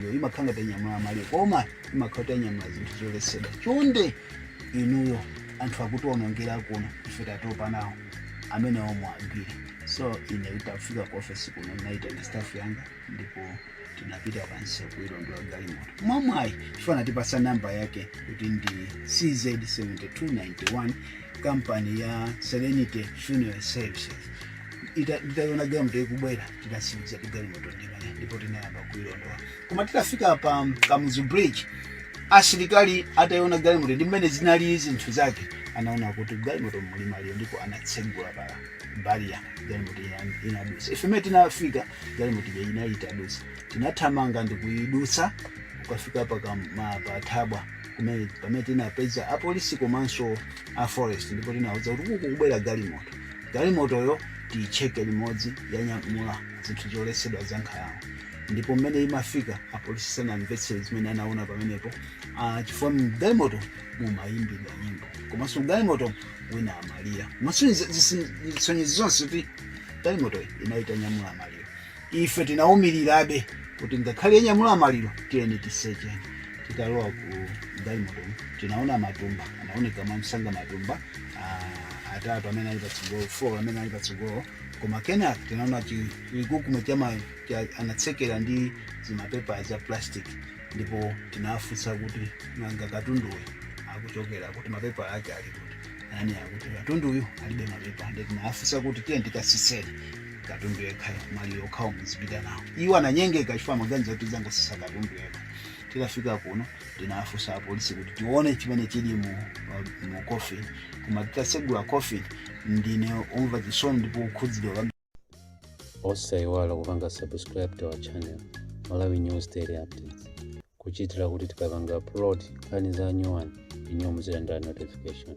Iyo imakhala ngati yanyamula maliro koma imakhala kuti yanyamula zinthu zoletsedwa chonde inuyo anthu akutiwonongera kuno ife tatopa nawo amene omwe agwire so ine itafika ku ofesi kuno ndinaitana staff yanga ndipo tinapita pansi kuilondola galimoto mwamwayi chifukwa anatipasa namba yake kuti ndi cz 7291 kampani ya serenity funeral services ita- titaiona galimoto ikubwera tinatsimikiza kuti galimoto ndi imene ndipo tinayamba kuilondola koma titafika pa kamuzu bridge asilikali ataiona galimoto ndi mmene zinali zinthu zake anaona kuti galimoto muli maliro ndipo anatsegula pa barrier galimoto ina- inadusa ife mmene tinafika galimoto ija inali itadusa tinathamanga ndikuidusa kukafika pa kam- ma- pa thabwa kumene pamene tinapeza apolisi komanso a forest ndipo tinawauza kuti kuku kubwera galimoto Galimotoyo tiitcheke limodzi yanyamula zinthu zoletsedwa za nkhalango ndipo mmene imafika apolisi sanamvetse zimene anaona pamenepo ah, chifukwa mgalimoto mumayimbidwa nyimbo komanso mgalimoto wina amalira komanso zisonyezo zonse kuti galimotoyi inali itanyamula maliro ife tinawumilirabe kuti ngakhale yanyamula maliro tiyeni tisecheni titalowa ku galimotomu tinaona matumba anaoneka mwamsanga matumba ah, atatu amene ali patsogolo four amene ali patsogolo koma kenaka tinaona chikukume chama cha- anatsekera ndi zimapepa za plastic ndipo tinafunsa kuti nanga katunduyu akuchokera kuti mapepa ake ali kuti ananena kuti katunduyu alibe mapepa ndipo tinafunsa kuti tiyeni tikasiseni katundu yekhayo maliro okhawo muzipita nawo iwo ananyengeka chifukwa amaganiza kuti tingosisa katundu yekha titafika kuno tinafunsa apolisi kuti tione chimene chili mu, mu coffin koma titasegula coffin ndine omva chisoni ndipo okhudzidwa kwambiri osaiwala kupanga subscribe to our channel malawi news daily updates kuchitira kuti tikapanga upload nkhani za nyuwani inuyo muzilandira notification